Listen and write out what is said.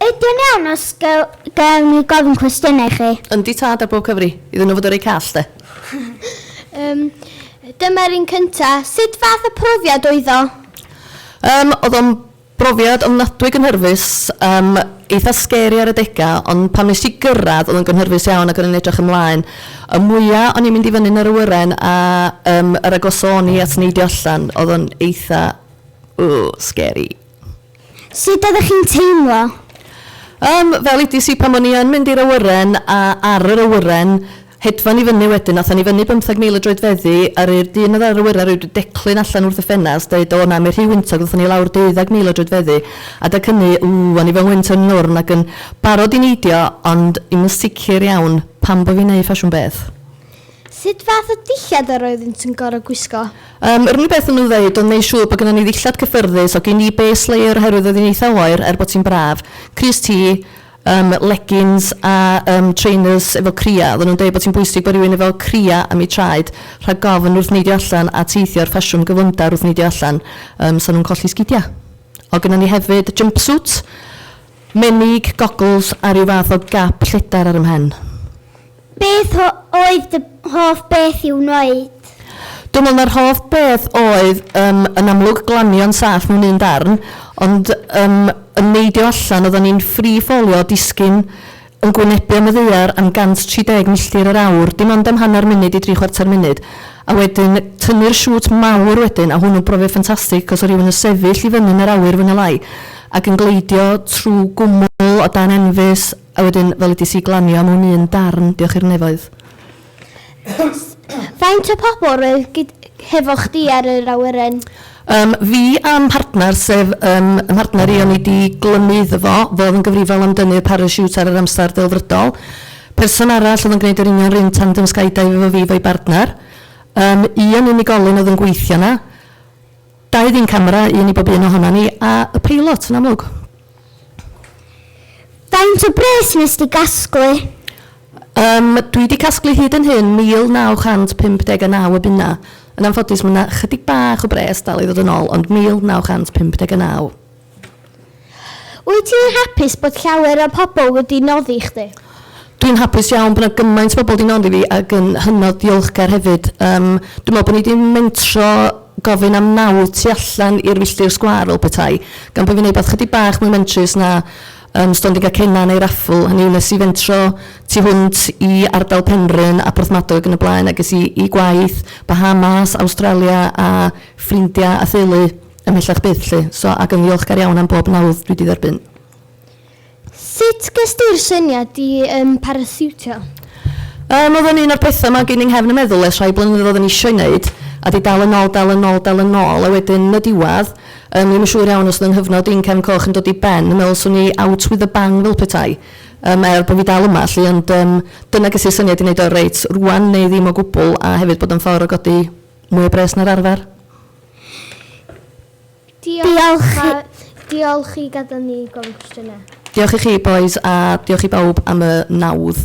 Ydy'n iawn os gael ni gofyn cwestiynau chi? Yndi tad ar bob cyfri. Iddyn nhw fod yn reit call de. Yym, dyma'r un cynta. Sut fath o profiad oedd o? Yym, oedd o'n brofiad ofnadwy gynhyrfus. Yym, eitha scary ar adega, ond pan wnes ti gyrraedd oedd o'n gynhyrfus iawn ac o'n i'n edrych ymlaen. Y mwya o'n i'n mynd i fyny'n yr awyren a yym yr agos o'n i at neidio allan oedd o'n eitha Ww, scary. Sut oeddech chi'n teimlo? Yym, fel edes i pan o'n i yn mynd i'r awyren a ar yr awyren, hedfan i fyny wedyn, aethon ni fyny bymtheg mil o droedfeddi, a'r yy dyn oedd ar yr awyren rioed wedi declyn allan wrth y ffenast, deud, o na, mae rhy wyntog, ddothon ni lawr deuddag mil o droedfeddi, adeg hynny, ww, o'n i fel wynt yn nwrn ac yn barod i neidio, ond i'm yn sicr iawn pam bo' fi'n neud ffasiwn beth. Sut fath o dillad yr oeddynt yn gorfod gwisgo? Yym, yr unig beth o'n nhw'n ddeud oedd neu' siŵr bod gynnon ni ddillad cyffyrddus, oedd gin i base layer oherwydd oedd hi'n eitha' oer er bod hi'n braf, crys T, yym legins a yym trainers efo cria'. Oedden nhw'n deud bod hi'n bwysig bod rhywun efo cria' am eu traed rhag gofn wrth neidio allan a teithio i'r ffasiwn gyflymdar wrth neidio allan yym 'sa nhw'n colli sgidia'. Oedd gynnon ni hefyd jumpsuit, menig, goggles a rhyw fath o gap lledar ar 'y mhen. Beth oedd dy hoff beth i'w wneud? Dwi'n meddwl mai'r hoff beth oedd yym yn amlwg glanio'n saff mewn un darn, ond yym yn neidio allan, oeddan ni'n free ffolio, disgyn yn gwynebu am y ddaear am 130 milltir yr awr, dim ond am hanner munud i dri chwarter munud, a wedyn tynnu'r siŵt mawr wedyn, a hwnnw'n brofiad ffantastig achos oedd rhywun yn sefyll i fyny yn yr awyr fwy neu lai ac yn gleidio trwy gwmwl o dan enfys, A wedyn fel edis i glanio mewn un darn, diolch i'r nefoedd. Faint o pobl roedd hefo chdi ar yr awyren? Yym, fi a'm partner, sef yym y mhartner i o'n i 'di glymu iddo fo, fo oedd yn gyfrifol am dynnu'r parasiwt ar yr amser delfrydol. Person arall oedd yn gwneud yr union 'r un tandem skydive efo fi 'fo'i bartner. Yym, un unigolyn oedd yn gweithio 'na. Dau ddyn camera, un i bob un ohonan ni, a y peilot, yn amlwg. Faint o bres nes di gasglu? Um, dwi wedi casglu hyd yn hyn 1959 o bunnau. Yn anffodus, mae yna chydig bach o bres dal i ddod yn ôl, ond 1959. Wyt ti'n hapus bod llawer o pobl wedi noddi chdi? Dwi'n hapus iawn bod 'na gymaint o bobl 'di noddi fi ac yn hynod ddiolchgar hefyd. Yym dwi'n meddwl bod ni 'di mentro gofyn am naw tu allan i'r filltir sgwâr fel petai, gan bo' fi'n wneud rywbeth chydig bach mwy mentrus na yym stondin Gacennau neu raffl, hynny yw wnes i fentro tu hwnt i ardal Penrhyn a Porthmadog yn y blaen a ges i i gwaith, Bahamas, Awstralia a ffrindiau a theulu. Ymhellach byth 'lly. So, ac yn ddiolchgar iawn am bob nawdd dwi 'di dderbyn. Sut ges di'r syniad i um, parasiwtio? Um, oedd o'n un o'r pethau mae gen i'n nghefn y meddwl ers rhai blynyddoedd yn eisiau wneud, a di dal yn ôl, dal yn ôl, dal yn ôl, a wedyn y diwedd, um, ddim yn siŵr iawn os oedd yng nghyfnod i'n cefn coch yn dod i ben, yn meddwl swn i out with a bang fel petai, um, er bod fi dal yma, lli, ond um, dyna ges i'r syniad i wneud o reit rwan neu ddim o gwbl, a hefyd bod o'n ffordd o godi Mwy o bres na'r arfer. Diolch, a diolch i gadael ni gofyn cwestiynau. Diolch i chi, bois, a diolch i bawb am y nawdd.